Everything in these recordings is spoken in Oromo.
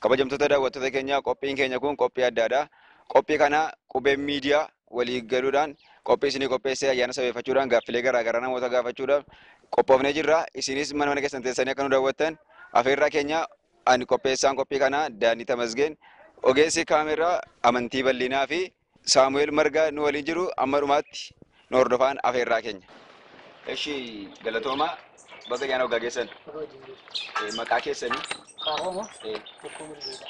Kabajamtoota daawwattoota keenyaa qophiin keenya kun qophii addaadha. Qophii kana qubeen miidiyaa walii galuudhaan qophii isinii qopheessee ayyaana sabeeffachuudhaan gaaffilee garaa garaa namoota gaafachuudhaaf qophoofnee jirra. Isinis mana mana keessan teessanii akka nu daawwattan afeerraa keenya ani qopheessaan qophii kanaa Daanii Tamasgeen ogeessi kaameeraa Amantii Bal'inaa fi Saamu'eel Margaa nu waliin jiru amma dhumaatti nu hordofaan afeerraa keenya. Eshi galatooma baga yaana waggaa geessan Eh, maqaa keessanii Kaahoomo eh, tokko mul'isa.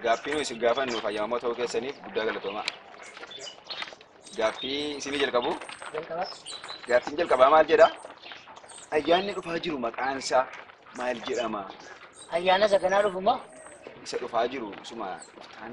gaaffii nu isin gaafannu fayyamamoo ta'uu keessaniif guddaa galatooma. Gaaffii isinii jalqabu Jalqaba gaaffiin jalqabaa maal jedha? Ayyaanni dhufaa jiru maqaan isaa maal jedhama? ayyaana isa kanaa dhufuma Isa dhufaa jiru suma dhuftaan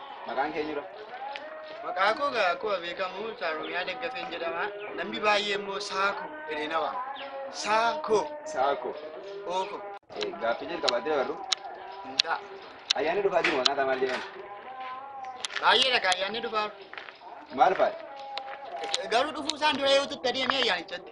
Maqaan kee jira? Maqaa koo gaa akkuma beekamu Saaromiyaa Daggafeen jedhama. Namni baay'ee immoo Saako jedhee na waama. Saako Saako. ooko Gaaffii jalqabaatti dabarru. hin ta'a. Ayyaanni dhufaa jiru maqaa isaa maal jedhama? Baay'eedha gaa ayyaanni dhufaa. Maal faati? Garuu dhufuu isaan dura yoo tutte deemee ayyaanichatti.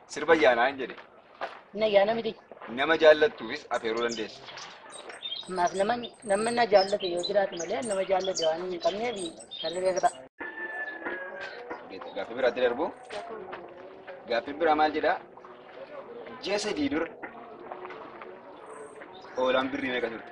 Sirba ayyaanaa hin jedhe. Inni ayyaana miti. Nama jaallattuufis afeeruu dandeessa. Ammaaf nama namni na jaallate yoo jiraate malee nama jaallate waan hin qabneef sirri sirba. Gaaffii biraatti darbu. Gaaffiin biraa maal jedhaa? Ji'a sadii dura hoolaan birrii meeqa turte?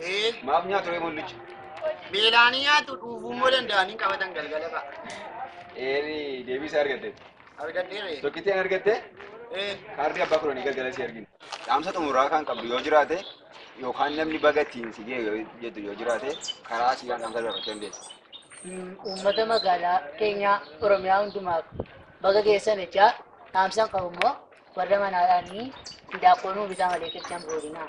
Ee, Maaf nyaatu ree mullicha? beelaanii nyaatu dhuufuu immoo danda'anii qabatan galgala fa'a. Eerii deebii isaa argatte. Argadhee ree. Tokkitti an argatte Ee, kaardii abbaa kudhanii galgala si argina. Dhaamsa xumuraa kan qabdu yoo jiraate yookaan namni baga ittiin si ga'e yoo jettu yoo jiraate karaa asii waan dhaamsa dabarfachuu dandeessa. mm, uummata magaalaa keenyaa Oromiyaa hundumaaf baga geessan jechaa dhaamsan qabu immoo warra manaadhaanii hindaaqqoo nuu bitaa malee qirchan boodinaa.